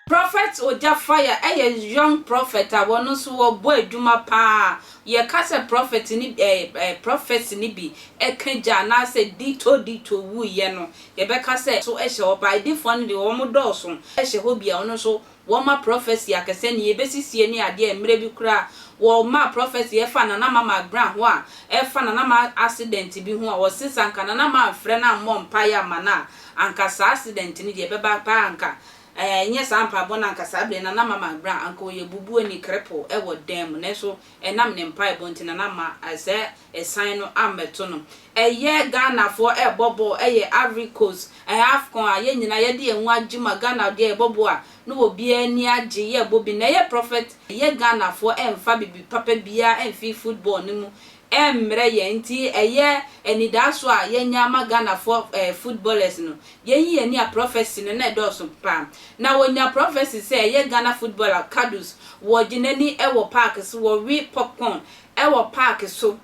Prophet Ogya Fire yɛ young prophet a wɔno nso wɔbɔ adwuma paa. Yɛka sɛ prophet no bi ɛɛ ɛɛ prophecy no bi ka gya anaasɛ ditto ditto wuiɛ no, yɛbɛka sɛ so hyɛ hɔ paa. Adifoɔ no deɛ wɔdɔɔso hyɛ hɔ bi a wɔn nso wɔma prɔfɛse akɛsɛ ne yebesisie ne adeɛ a mmerɛ bi koraa wɔmaa prɔfɛse ɛfa Nana Mama Grah ho a ɛfa Nana Mah accident bi ho a wɔse sɛ anka Nana Mah amfrɛ no ammɔ mpaeɛ amma no a anka saa accident no deɛ ɛbɛba paa anka ɛnyɛ saa mpaebɔ no anka saa berɛ Nana Mama Grah anka ɔyɛ bubuo ni krepoo ɛwɔ dan mu nanso ɛnam ne mpaebɔ nti Nana Mah sɛ ɛsan no ammɛto no. Ɛyɛ Ghanafoɔ rebɔ bɔɔl, ɛyɛ Ivory Coast, ɛyɛ Afcon a yɛn nyinaa yɛde yɛn ho agye mu a Ghana deɛ yɛbɔ bɔɔl a na obiara ani agye, yɛrebɔ bi na ɛyɛ Prophet, ɛyɛ Ghanafoɔ mmfa biribi papa biara mmfi football no mu mmrɛ yɛn nti ɛyɛ anidaasoɔ a yɛanya ama Ghanafoɔ ɛɛ footballers no. Yɛnyi yɛn ani a Prophecy no na ɛdɔɔso pa ara. Na wɔnya Prophecy sɛ ɛyɛ Ghana Footballer Kudus wɔgye n'ani wɔ park so wɔwe popcorn wɔ park so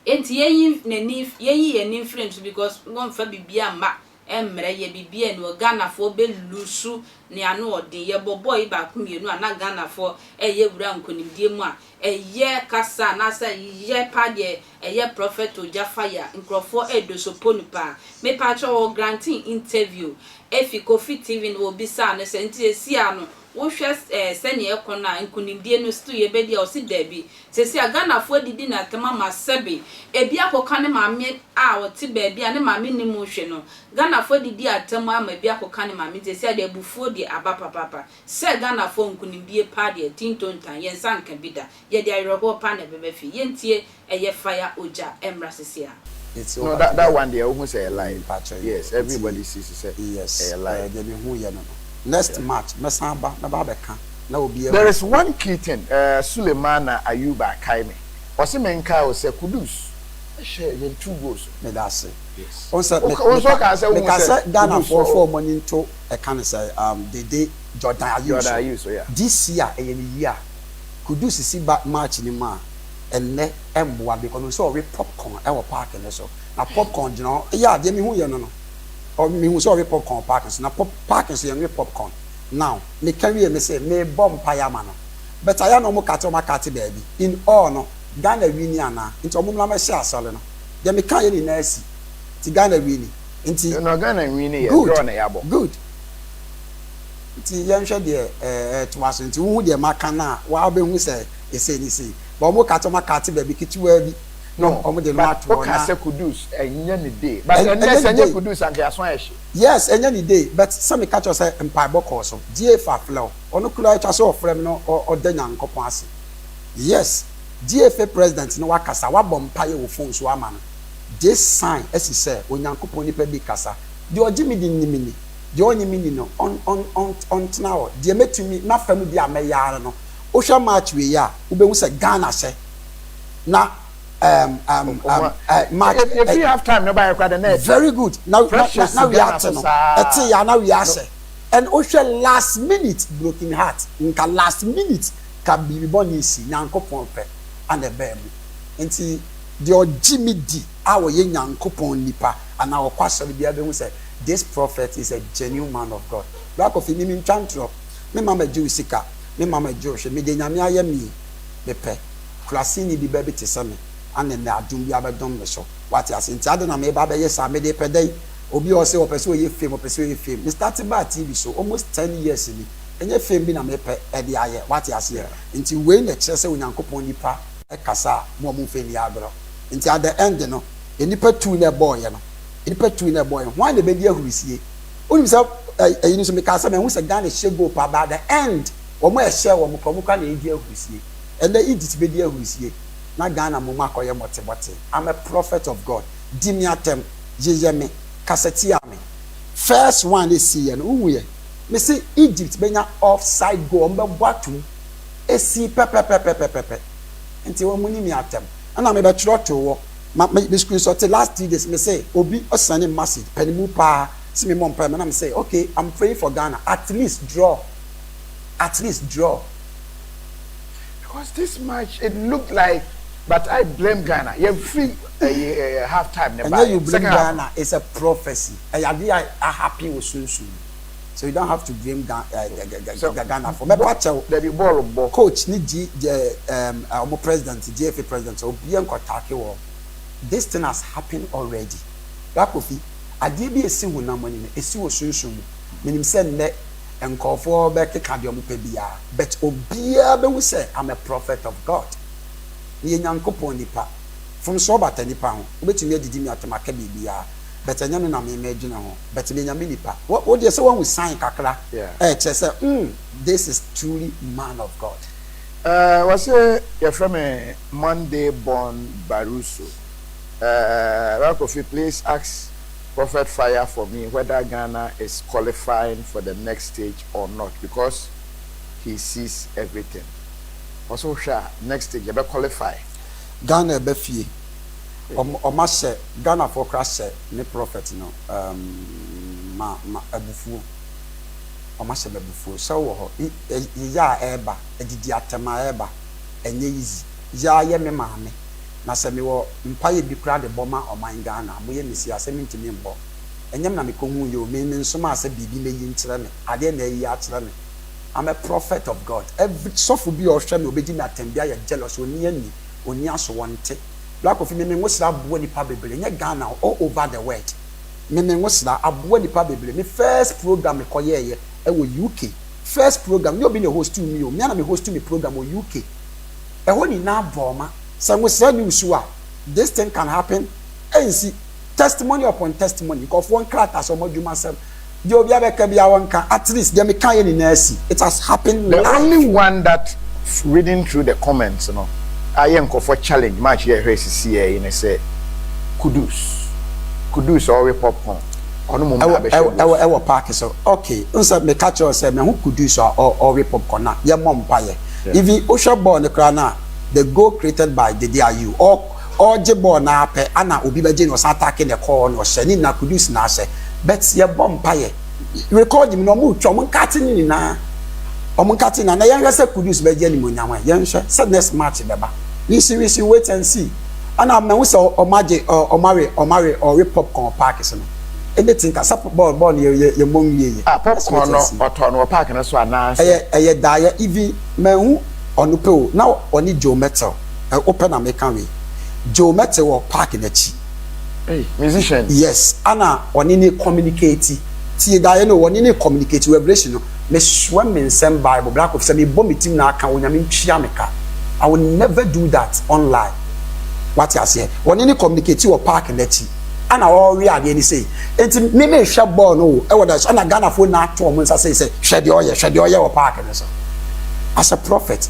nti yɛyi nani yɛyi yɛn ani mfiri no so because wɔnfa biribiara mma mmrɛ yɛ biribiara ni hɔ Ghanafoɔ bɛ loose ne ano ɔden yɛbɔ bɔɔ yi baako mmienu a na Ghanafoɔ ɛyɛ wura nkonimdie mu a ɛyɛ kasa anaasɛ yɛ paa deɛ ɛyɛ prophet ogya fire nkorɔfoɔ ɛdoso ponu paa mepaakyɛw wɔ granting interview ɛfi Kofi TV no wɔbisaa no sɛ nti sesie a no wohwɛ eh sɛnea ɛkɔ no a nkunimdie no still yɛbɛdi a ɔse daabi seesei a Ghanafoɔ adidi no atɛm ama sɛbe ebi akɔka ne maame a ɔte baabi a ne maame nni mu hwɛ no Ghanafoɔ adidi atɛm ama ebi akɔka ne maame nti seesei a deɛ abufuo deɛ aba papaapa sɛ Ghanafoɔ nkunimdie paa deɛ tintontan yɛn nsa nka bi da yɛde awerɛhoɔ paa na ɛbɛba fie yɛntie ɛyɛ fire ogya ɛmmra sese a. No that that one deɛ wohu sɛ ɛyɛ live yes everybody sees sɛ ɛyɛ live. Deɛ mehu yɛ no no next march mɛsan aba mɛba abɛka na obiara. There is one key thing eh Sulemana Ayuba akae me ɔse menkae wo sɛ Kudus hyɛ yɛn two goals no. Medase. Yes. Wo nso wokaa sɛ wohu sɛ Kudus wɔ. Meka sɛ Ghana foɔ foɔ ɔmo ani nto ɛka no sɛ um Dede Jordan Ayew so. This year ɛyɛ ne year Kudus si ba March no mu a. Ɛnnɛ mmoa bi kɔ no sɛ ɔwe popcorn wɔ park no so na popcorn gyina hɔ yeah deɛ mehu yɛ no no mehu sɛ ɔwe popcorn wɔ park no so na pop park no so yɛnwe popcorn now meka wie me se merebɔ mpaeɛ ama no but ayɛ a na ɔmo kate ɔmo akate baabi in all no Ghana wini anaa nti ɔmo mmra mɛhyɛ asɔre no deɛ meka yɛ nyinaa asi nti Ghana wini nti No no Ghana nwini yɛ good draw na yɛabɔ. good nti yɛnhwɛ deɛ ɛɛtoa so nti wohu deɛ maka no a waa wobɛhu sɛ. yɛ sei ne sei, but wɔn ka sɛ wɔn akate baabi ketewaa bi na wɔn de no ato hɔ na. But woka sɛ Kudus ɛnyɛ ne day, but ɛnɛ sɛ ɛnyɛ Kudus anka yɛaso ayɛ hye. Yes ɛnyɛ ne day, but sɛ meka kyerɛ wo sɛ mpaebɔ kɔɔ so, Gyeefa afrɛ wo, ɔno koraa atwa sɛ ɔfrɛ me na ɔda Nyankopɔn ase, yes Gyeefa president ne wakasa, wabɔ mpaeɛ wɔ phone so ama no, this sign asi sɛ Onyankopɔn nipa bi rekasa, deɛ ɔgye me di nim me ni, deɛ ɔnnye me nni no ɔntena hɔ, deɛ mɛtumi, m'afa mu deɛ a mɛyɛ ara no Wohwɛ match wei a, wobɛhu sɛ Ghana sɛ na um, um, um, uh, match. Ebi eh, eh, half time no baayɛ koraa dɛ na ɛte. Very good. Na na na wia ate no. Ɛte ya na wia asɛ. And wohwɛ last minute broken heart nka last minute ka biribi bɔ ne si nyankopɔn pɛ ana ɛbɛɛ mu. Nti deɛ ɔgye me di a ɔyɛ nyankopɔn nipa anaa ɔkɔ asɔre biara bɛhu sɛ this prophet is a genuine man of God. Black coffee mimi ntwa ntorɔ me mama gye wo sika. Me mama Adjoo hwɛ me deɛ Nyame ayɛ me yi me pɛ Kuraseni bi bɛ bi te sɛ me Ane nnɛ adom bi abɛdom me so Wate aseɛ nti adɛn na me ba abɛyɛ saa me de pɛ dɛn Obi a ɔse ɔpɛ sɛ ɔyɛ fame ɔpɛ sɛ ɔyɛ fame Me starte baa TV so almost ten years ni Ɛnyɛ fame bi na me pɛ de ayɛ Wate aseɛ nti wei na ɛkyerɛ sɛ Onyankopɔn nipa kasa a mo a mo mfa nni agorɔ Nti at the end no nnipa tu na ɛbɔɔyɛ no nnipa tu na ɛbɔɔyɛ Hwan na ɛbɛdi ahurisie? Wonim sɛ ɛyi no nso mekaa sɛ mahu sɛ Ghana hyɛ goal paa but at the end wɔn a ɛhyɛɛ wɔn koraa wɔn koraa na ɛredi ahurusie. Ɛnnɛ Egypt bɛdi ahurusie na Ghana mmom akɔyɛ mɔtemɔte. I'm a prophet of God. Di me atɛm, yeyɛ me, kasa tia me. First one ɛsiiɛ no wohuiɛ? Mese Egypt bɛnya offside goal, wɔn bɛbɔ atom. Ɛsii pɛpɛpɛpɛpɛpɛ. Nti wɔn ni me atɛm. Ɛna mebɛtwerɛ too hɔ. Ma me me screenshot last three days me se obi ɔsend me message pɛ ne mu paa se me mmɔ mpae ma na me se okay I'm praying for Ghana at least draw at least draw. Because this match it looked like but I blame Ghana yɛ firi ɛyi ɛɛ half time ne baayɛ second half no. Ɛnyɛ you blame Ghana it's a prophecy ɛyɛ adeɛ a a happen wɔ sunsum mu. So you don't have to blame Ga eh, Ga- Ga- Ga- Sɛ- Ga- Ghanafoɔ. Mɛpa bɔ- kyɛw, dabi bɔɔl bɔ coach ne G, G, um, uh, wɔn president, GFA president, sɛ obiara nkɔtaake wɔn. This thing has happened already. Bra Kofi, adeɛ bi a ɛsi honam mu anim no, ɛsi wɔ sunsum mu. Menim sɛ nnɛ nkurɔfoɔ bɛkeka deɛ wɔpɛ biara, but obiara bɛhu sɛ I'm a prophet of God. Meyɛ Nyankopɔn nipa. Mfomsoɔ bata nipa ho. Wobɛtumi adidi me atɛm aka biribiara. but ɛnyɛ no na me mɛgyina ho but me nyame nipa wo wo deɛ sɛ wahu sign kakra Yeah. ɛkyerɛ sɛ mm this is truly man of God. Eh, wɔse yɛfrɛ me Monday born Baruso eh, Bra Kofi please ask Prophet Fire for me whether Ghana is qualifying for the next stage or not because he sees everything Wɔse wohwɛ a next stage yɛbɛ qualify. Ghana ɛbɛ fie Ɔmo ahyɛ Ghana foɔ koraa hyɛ ne prophet no um, ma, ma abufuo. Ɔmo ahyɛ me abufuo. Sɛ wowɔ hɔ, yeyɛ a ɛɛba, adidi atɛm a ɛɛba, ɛnyɛ easy. Yaa yɛ me maame, na sɛ me wɔ mpaeɛ bi koraa de bɔ ma ɔman Ghana a, moyɛ me sei a, sɛ me ntumi mbɔ. Ɛnyɛ me na me kɔ huuiɛ o, me, me nsomaa sɛ biribi mɛyi nkyerɛ me, adeɛ na ayi akyerɛ me. I'm a prophet of God. Every, sɔfo bi a ɔhwɛ me, ɔbɛdi me atɛm bi ayɛ jealous, ɔnni anni. Onnya so wɔnte. Black coffee Meme nwosra aboa nipa bebree nyɛ Ghana o all over the world Meme nwosra aboa nipa bebree me first program me kɔ yɛɛyɛ ɛwɔ UK first program nyɛ obi na ɛhostu me o me ara na me hostu me program wɔ UK ɛhɔ nyinaa bɔɔma sɛ nwosra nni wo su a this thing can happen ɛnsi testimony upon testimony nkurɔfoɔ nkrataa sɛ wɔn adwuma sɛm deɛ obi abɛka bi awɔ nka at least deɛ meka yɛ nyinaa si it has happened live. The only one that reading through the comments no ayɛ nkurɔfoɔ challenge match yɛ hwɛ sisi yɛ yi ne sɛ kudus kudus ɔwe popcorn ɔno mom na abɛhyɛ goals. Ɛwɔ ɛwɔ park so okay n sɛ meka kyerɛ sɛ mɛ ho kudus a ɔwe popcorn na yɛ mɔ mpa yɛ even wohwɛ ball ne koraa na the goal created by Dede Ayew all. Ɔregye bɔɔl no ara pɛ ana obi bɛgye na ɔsan atake ne kɔɔ hɔ na ɔhyɛ ne nna Kudus na ahyɛ but yɛbɔ mpaeɛ recording mu no ɔmo retwa ɔmo nkate no nyinaa ɔmo nkate nyinaa na yɛnhwɛ sɛ Kudus bɛgye animuonyam ɛ yɛnhwɛ sɛ next match bɛba we shall we shall wait and see ana mahu sɛ ɔmo agye ɔmo awe ɔmo awe ɔwe popcorn wɔ park so no anything ka sɛ bɔɔl bɔɔl no yɛ yɛ yɛmmɔ nwieɛ yɛ Ah let's popcorn wait no and see. ɔtɔɔ no wɔ park no so anaa sɛ. Ɛyɛ ɛyɛ daeɛ even manhu ɔno pɛ o na ɔne Joe Mettle. Eh wopɛ na meka wei. Joe mɛte wɔ park no akyi. Ei musician. Yes ana ɔne ne communicate tie daeɛ no ɔne ne communicate revelation no mesoa me nsɛm bible bra kofi sɛ mebɔ me tim na aka onyame ntua me ka I will never do that online wate aseɛ ɔne ne communicate wɔ park no akyi ana ɔrewe adeɛ no sei enti me mehwɛ bɔɔl no o ɛwɔ da so ana Ghanafoɔ nyinaa to wɔn nsa sei sɛ hwɛ deɛ ɔyɛ hwɛ deɛ ɔyɛ wɔ park no so as a prophet